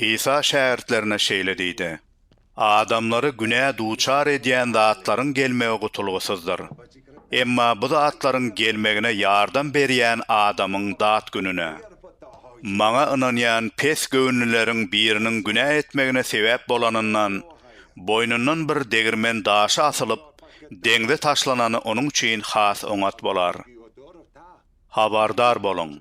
Isa şägirtlerine şeýle diýdi, Adamlary günä duçar edýän zatlaryň gelmegi gutulgysyzdyr. Emma bu zatlaryň gelmegine ýardam berýän adamyň dat gününe. Maňa ynanýan pes göwünlileriň biriniň günä etmegine sebäp bolanyndan, boýnundan bir degirmen daşy asylyp, deňze taşlanany onuň üçin has oňat bolar. Habardar boluň!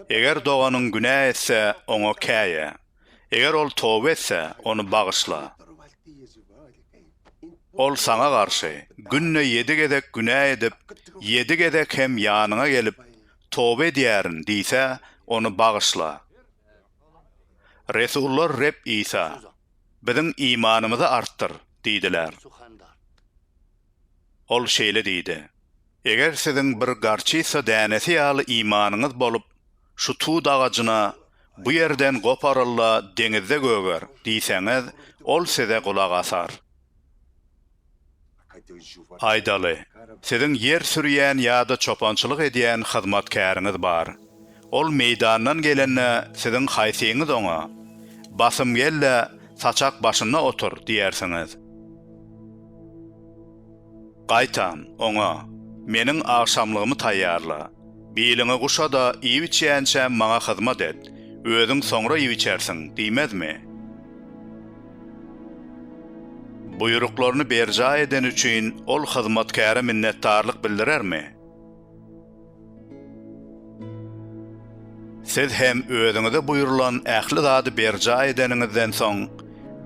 Eger doganyň günä etse, oňa käýe. Eger ol toba etse, ony bagyşla. Ol saňa garşy, günde ýedi gezek günä edip, ýedi gezek hem ýanyňa gelip, Toba edýärin diýse, ony bagyşla. Resullar Reb Isa, Biziň imanymyzy artdyr! diýdiler. Ol şeýle diýdi. Eger siziň bir garçysa dänesi ýaly imanyňyz bolup, şu tut agajyna, Bu ýerden goparyl-da, deňizde göger! diýseňiz, ol size gulak asar. Aýdaly, siziň ýer sürýän ýa-da çopançylyk edýän hyzmatkäriňiz bar. Ol meýdandan gelende, siziň haýsyňyz oňa, Basym gel-de, saçak başynda otur! diýersiňiz. Gaýtam, oňa, Meniň agşamlygymy taýýarla. Biliňi guşa-da, iýip-içýänçä maňa hyzmat et. Özüň soňra iýip-içersiň diýmezmi? Buýruklaryny berjaý edeni üçin ol hyzmatkäre minnetdarlyk bildirermi? Siz hem özüňize buýrulan ähli zady berjaý edeniňizden soň,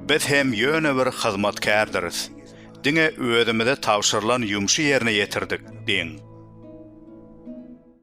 biz hem ýöne bir hyzmatkärdiris, diňe özümize tabşyrylan ýumşy ýerine ýetirdik diýiň.